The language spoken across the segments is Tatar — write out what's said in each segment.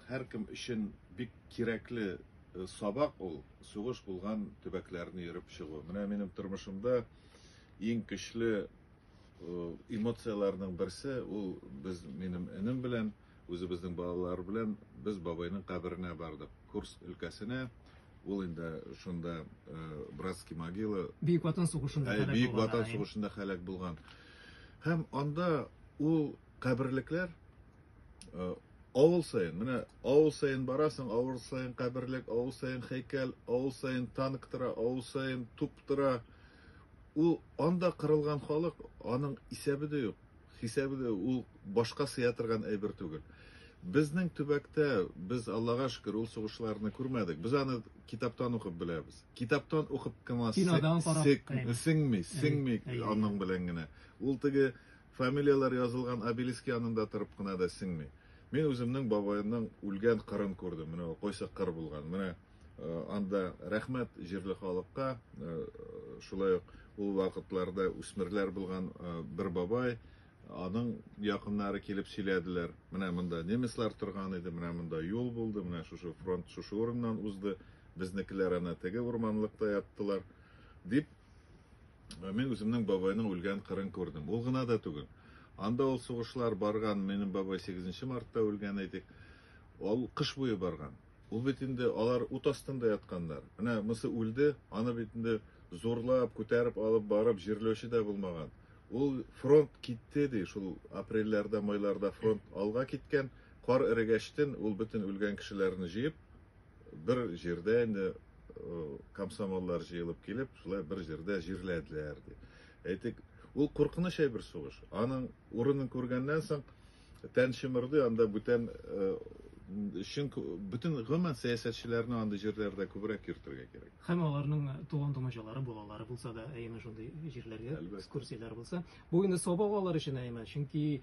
Һәркем өчен бик кирәкле сабак ул, сугыш булган төбәкләрне йөреп чыгу. Менә минем тормышымда иң көчле эмоцияләрнең берсе ул без минем энем белән, үзебезнең балалар белән без бабайның каберенә бардык. Курс өлкәсенә ул инде шунда братский могила. Бөек Ватан сугышында хәлак булган. Бөек Ватан сугышында хәлак булган. Һәм анда ул каберлекләр Э, авыл сайын, менә авыл сайын барасың, авыл сайын каберлек, авыл сайын хәйкәл, авыл сайын танк тора, авыл сайын туп тора. Ул анда кырылган халык, аның исәбе дә юк, хисабы да юк, ул башка сыя торган әйбер түгел. Безнең төбәктә без Аллага шөкер ул сугышларны күрмәдек. Без аны китаптан укып беләбез. Китаптан укып кына сеңми, сеңми, аның белән генә. Ул теге Фамилияләр язылган обелиск янында торып кына да сеңми. Мин үземнең бабаемның үлгән кырын күрдем. Менә ул кайсы кыр булган. Менә анда рәхмәт җирле халыкка. Шулай ук ул вакытларда үсмерләр булган бер бабай, аның якыннары килеп сөйләделәр. Менә монда немецлар торган иде, менә монда юл булды, менә шушы фронт шушы урыннан узды, безнекеләр ана теге урманлыкта яттылар, дип Мин үземнең бабайның үлгән кырын күрдем. Ул гына да түгел. Анда ул сугышлар барган, минем бабай 8 мартта үлгән әйтик. Ул кыш буе барган. Ул бит инде алар ут астында ятканнар. Менә мысы үлде, аны бит инде зурлап, күтәреп алып барып җирләүче дә булмаган. Ул фронт китте ди, шул апрельләрдә, майларда фронт алга киткән. Кар эрегәчтен ул бөтен үлгән кешеләрне җыеп, Бер җирдә инде комсомоллар җыелып килеп, шулай бер җирдә җирләделәр ди. Әйтик, ул куркыныч әйбер сугыш. Аның урынын күргәннән соң тән чымырды, анда бүтән өчен бөтен гомумән сәясәтчеләрне андый җирләрдә күбрәк йөртергә кирәк. Һәм аларның туган тумачалары, балалары булса да, әйеме шундый җирләргә экскурсияләр булса, бу инде сабак алар өчен әйеме, чөнки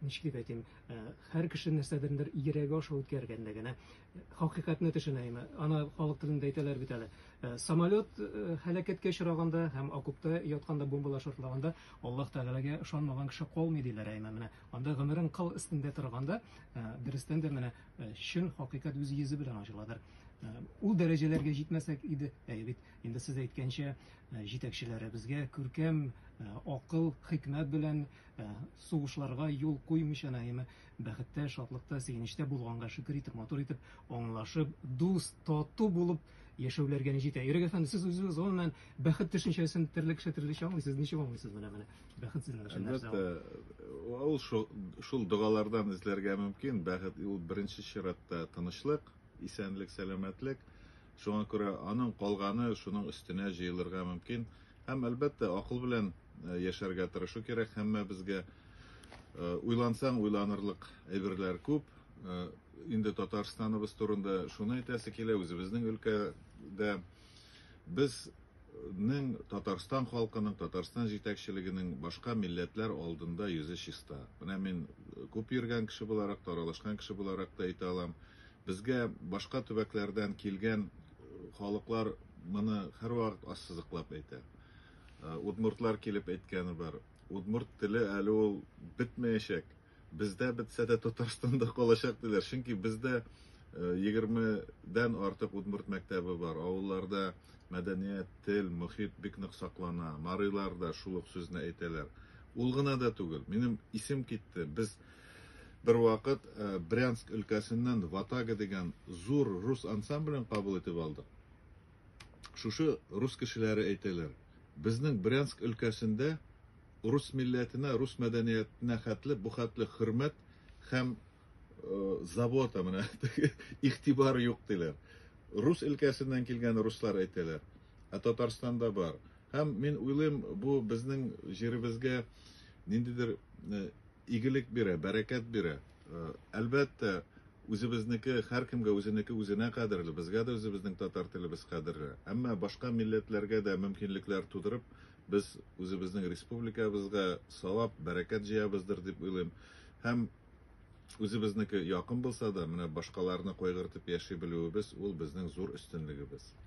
ничек дип әйтим, Э, һәр кеше нәрсәдердер йөрәге аша үткәргәндә генә э, хакыйкатьне төшенә име аны халык телендә әйтәләр бит әле э, самолет һәлакәткә очраганда һәм окопта ятканда бомбалар шартлаганда аллаһ тәгаләгә ышанмаган кеше калмый диләр әйме менә анда гомерең кыл өстендә торганда дөрестән дә менә чын хакыйкать үз йөзе белән ачыладыр ул дәрәҗәләргә җитмәсәк иде әйе бит инде сез әйткәнчә җитәкчеләребезгә күркәм акыл хикмәт белән Ә сугышларга юл куймыйча Наима бәхеттә, шатлыкта, сөенечтә булганга шөкер итеп, матур итеп, аңлашып, дус, тату булып яшәүләргә ни җитә. Ирек әфәнде, сез үзегез гомумән бәхет төшенчәсен төрле кеше төрлечә аңлый. Сез ничек аңлыйсыз менә моны? Бәхет сезнең өчен нәрсә? Әлбәттә, ул шул догалардан эзләргә мөмкин. Бәхет ул беренче чиратта тынычлык, исәнлек, сәламәтлек. Шуңа күрә аның калганы шуның өстенә җыелырга мөмкин. Һәм, әлбәттә, акыл белән э, яшәргә тырышу кирәк һәммәбезгә. Э, уйлансаң, уйланырлык әйберләр күп. Э, инде Татарстаныбыз турында шуны әйтәсе килә, үзебезнең өлкәдә без ның Татарстан халкының, Татарстан җитәкчелегенең башка милләтләр алдында йөзе чиста. Менә мин күп йөргән кеше буларак, таралышкан кеше буларак та әйтә алам. Безгә башка төбәкләрдән килгән халыклар моны һәрвакыт ассызыклап әйтә. Удмуртлар килеп әйткәне бар. Удмурт теле әле ул бетмәячәк. Бездә бетсә дә Татарстанда калачак диләр. Чөнки бездә 20дән артык удмурт мәктәбе бар. Авылларда мәдәният, тел, мохит бик нык саклана. Марилар да шул ук сүзне әйтәләр. Ул гына да түгел. Минем исем китте. Без Бервакыт Брянск өлкәсеннән Ватага дигән зур рус ансамблен кабул итеп алдык. Шушы рус кешеләре әйтәләр, безнең Брянск өлкәсендә рус милләтенә, рус мәдәниятенә хәтле бу хәтле хөрмәт һәм забота, менә теге игътибар юк, диләр. Рус өлкәсеннән килгән руслар әйтәләр. Ә Татарстанда бар. Һәм мин уйлыйм, бу безнең җиребезгә ниндидер Игелек бирә, бәрәкәт бирә. Әлбәттә, үзебезнеке һәркемгә үзенеке үзенә кадерле, безгә дә үзебезнең татар телебез кадерле. Әмма башка милләтләргә дә мөмкинлекләр тудырып, без үзебезнең республикабызга савап, бәрәкәт җыябыздыр дип уйлыйм. Һәм үзебезнеке якын булса да, менә башкаларны кайгыртып яши белүебез, ул безнең зур өстенлегебез.